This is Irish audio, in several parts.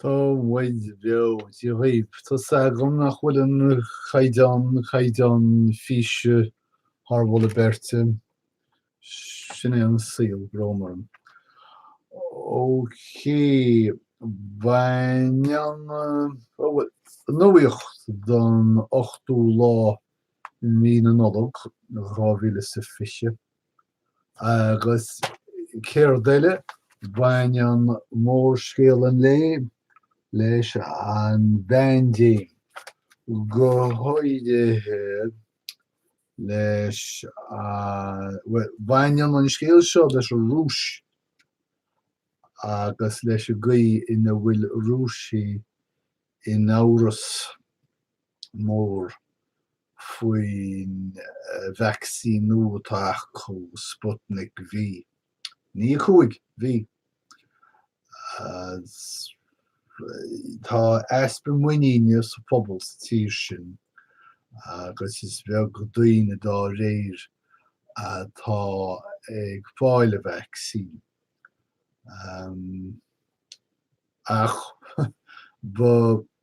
Tá muid beo, Dia dhaoibh! Tá 's agam nach bhfuil an caighdeán, caighdeán físe thar mholadh beirte. Sin é an saol, brón orm. Óicé, baineann, ó bhuel, an nuacht don 8ú lá i mí na Nollag 2020. Agus céard eile? Baineann mórscéal an lae leis an bpaindéim, go háirithe leis an, bhuel, baineann an scéal seo leis an Rúis agus leis an gcaoi ina bhfuil Rúisigh in amhras. mór faoin vacsaíniú atá acu, Sputnik V. Ní 5, V. Tá easpa muiníne sa phobal sa tír sin agus is beag daoine dá réir atá ag fáil an vacsaín. Ach ba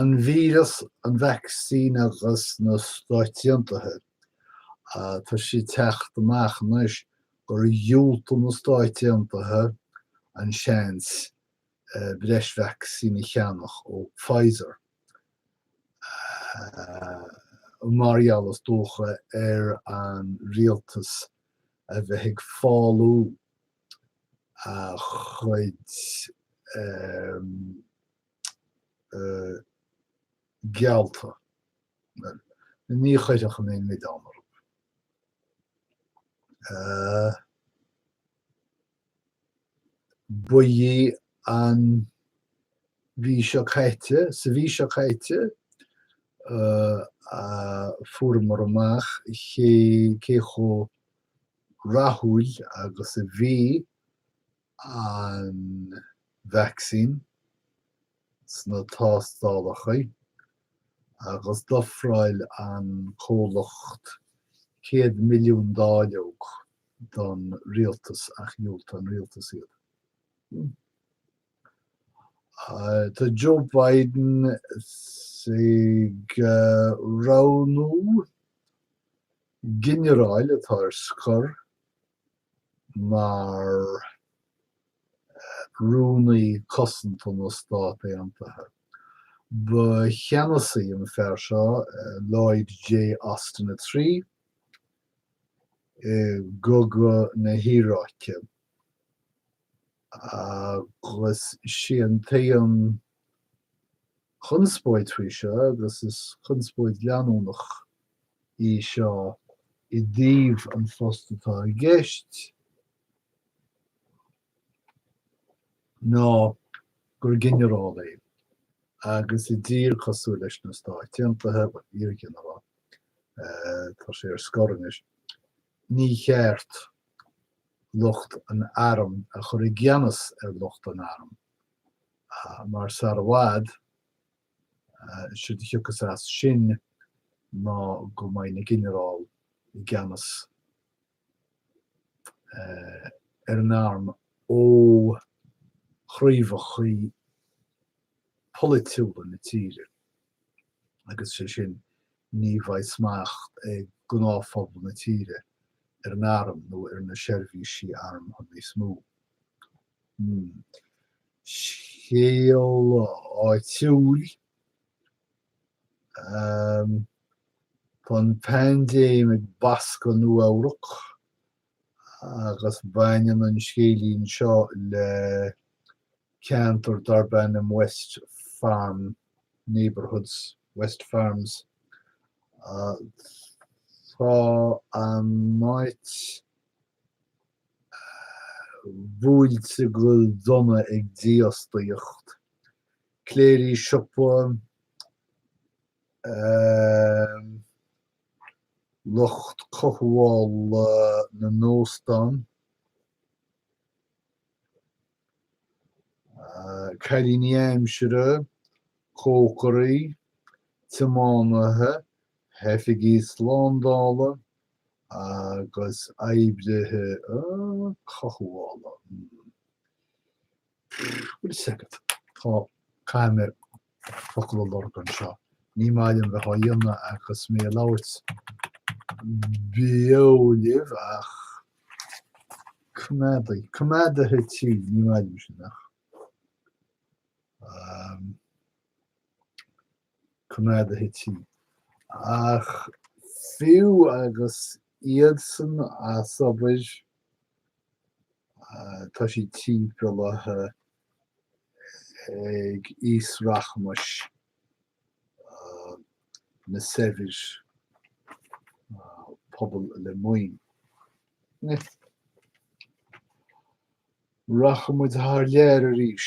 An víreas, an vacsaín agus na Stáit Aontaithe. Tá sé ag teacht amach anois gur dhiúltaigh na Stáit Aontaithe an seans breis vacsaín a cheannach ó Pfizer mar gheall is dócha ar an rialtas a bheith ag fálú. a chuid geallta, bhuel, ní chuirfinn aon mhilleán orthu. Ba í an mhí seo caite, sa mhí seo caite, a fuaireamar amach cé chomh rathúil agus a bhí an vacsaín sna tástálacha agus d'ofráil an comhlacht 100 milliún dáileog don rialtas ach dhiúltaigh an rialtas iad. Tá Joe Biden ag roghnú. ginearáil atá ar scor mar Rúnaí Cosanta na Stát Aontaithe. Ba cheannasaí é an fear seo, Lloyd J. Austin a Trí, i gCogadh na hIaráice agus is é an t-aon. chonspóid faoi seo, agus is chonspóid leanúnach í seo i dtaobh an phost atá i gceist, ná gur ginearál é agus i dtír cosúil leis na Stáit Aontaithe, bhuel, iar-ghinearál, tá sé ar scor anois, ní cheart lucht an airm a chur i gceannas ar lucht an airm mar sar i bhfad is séard a thiocfas as sin ná go mbeidh na ginearáil i gceannas ar an arm ó chraobhachaí polaitiúla na tíre agus is é sin ní bheidh smacht ag gnáthphobal na tíre ar an arm nó ar na seirbhísí armtha níos mó. Scéal áitiúil Tá an paindéim ag bascadh Nua-Eabhrac agus baineann an scéilín seo le ceantar darb ainm West Farm neighborhood, West Farms. Tá an áit bhuailte go dona ag dífhostaíocht, cléirigh siopa, lucht cothabhála na n-óstán, cailíní aimsire, cócairí, tiománaithe, oifigigh shlándála, Agus oibrithe cothabhála, hmm. Wait a second. Tá, caithfidh mé focal a lorg anseo. Ní maith liom bheith á dhéanamh agus mé ag labhairt beo libh ach coimeadaí, coimeádaithe tí, ní maith liom sin ach. coimeádaithe tí. Ach fiú agus iadsan as obair, tá siad timpeallaithe ag aos rachmais, na saibhir, pobal le maoin. Rachaidh muid thar lear arís.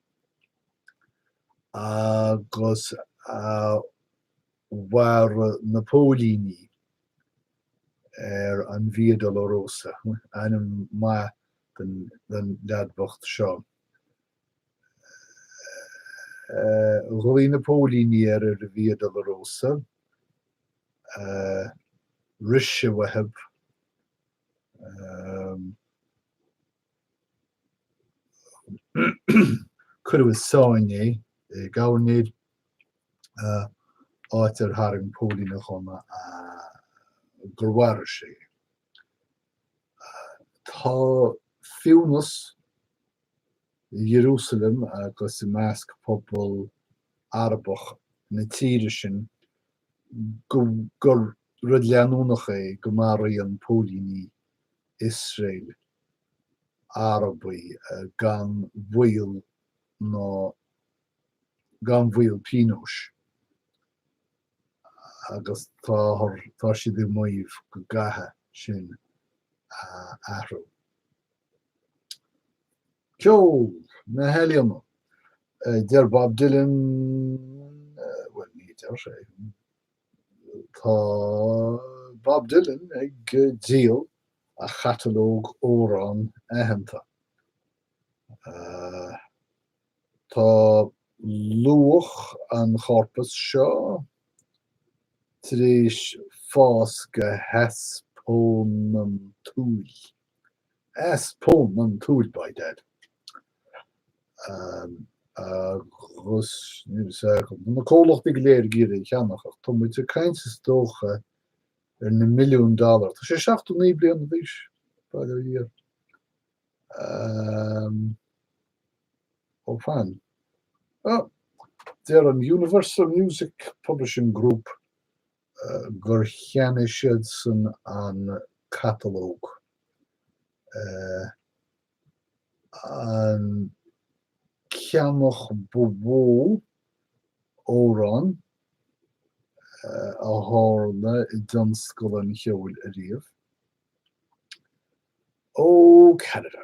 agus mharaigh na póilíní ar an Via Dolorosa, ainm maith don leaid bhocht seo, ghlaoigh na póilíní ar an Via Dolorosa, Rith sé uathu, Cuireadh i sáinn é i gcabhair nid, áit ar tharraing póilín a ghunna gur mharaigh sé é. Tá fianaise i Ierúsalem agus i measc pobal Arabach na tíre sin gur rud leanúnach é go maraíonn póilíní Iosrael, Arabaigh gan mhoill nó gan bhaol pionóis agus táthar, tá siad ag maíomh go gcaithfidh sin a athrú. Ceol, na healaíona, deir Bob Dylan, bhuel ní deir sé, Tá Bob Dylan ag díol a chatalóg amhrán aitheanta. Tá luach an chorpus seo tar éis fás go heaspónantúil. Easpónantúil by dad Um Agus níl 'fhios agam, tá na comhlachtaí go léir ag iarraidh é a cheannach ach tá muid ag caint is dócha ar na milliúin dollar, tá sé seachtó naoi bliana d'aois, bail ó Dhia. Um Ó fan. Oh, deir an Universal Music Publishing Group gur cheannaigh siadsan an catalóg, an ceannach ba mhó amhrán a tharla i dtionscal an cheoil ariamh. Ó Canada.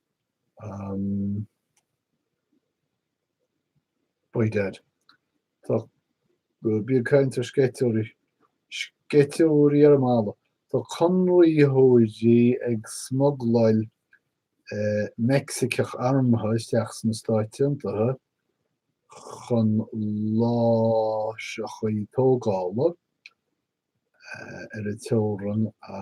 By dad. Tá mé ag caint ar sceitheoirí. Sceitheoirí ar an mballa. Tá conraitheoirí ag smugláil Meicsiceach armtha isteach sna Stáit Aontaithe chun láithreacha tógála ar an teorainn a.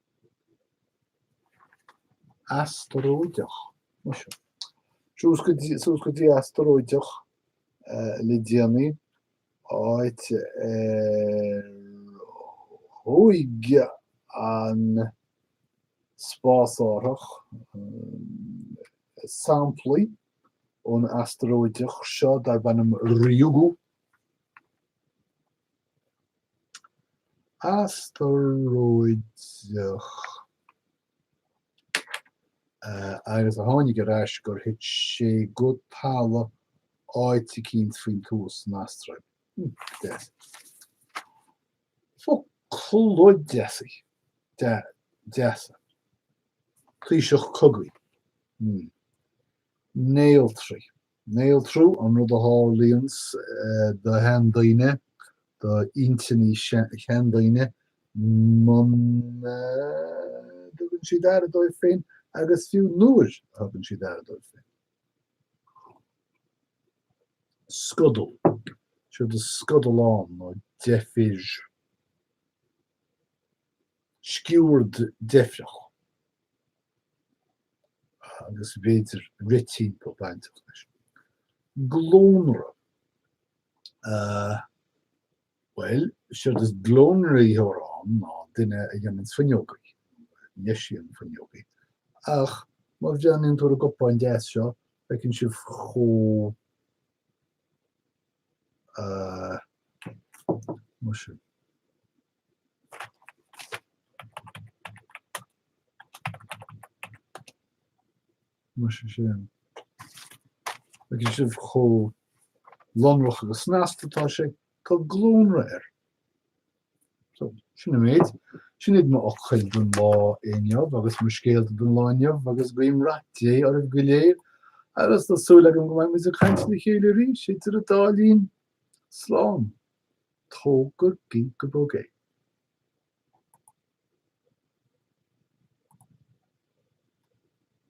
Astaróideach, muis. Suas go dtí astaróideach le déanaí, áit ar shúigh an spásárthach samplaí ón astaróideach seo darb ainm Ryugu. astaróideach agus a tháinig ar ais gur thit sé go talamh áit eicínt faoin tuath san Astráil. Deas. Focla deasa. Dea. Deasa. Taoiseach cogaidh. Néaltrú. Néaltrú an rud a tharlaíonns do sheandaoine, do intinní sheandaoine, muna dtugann siad aire dóibh féin agus fiú nuair a thugann siad aire dóibh féin. Scodal. Séard is scodal ann ná deifir. sciúird deifreach agus b'fhéidir rith timpeall bainteach leis. Glónra. Bhuel, séard is glónraitheoir ann ná duine a dhéananns fuinneogaí, nó a dheisíonn fuinneogaí, ach má bhreathnaíonn tú ar an gcupán deas seo, feiceann sibh chomh, ah, muise. Muise sin. Feiceann sibh chomh lonrach agus snasta atá sé, tá glónra air. So, sin an méid. Sin iad mo fhocail don lá inniu agus mo scéalta don lá inniu agus guím rath Dé oraibh go léir agus tá súil agam go mbeidh muid ag caint le chéile arís idir an dá linn. Slán. Tógadh Ginkgobog i.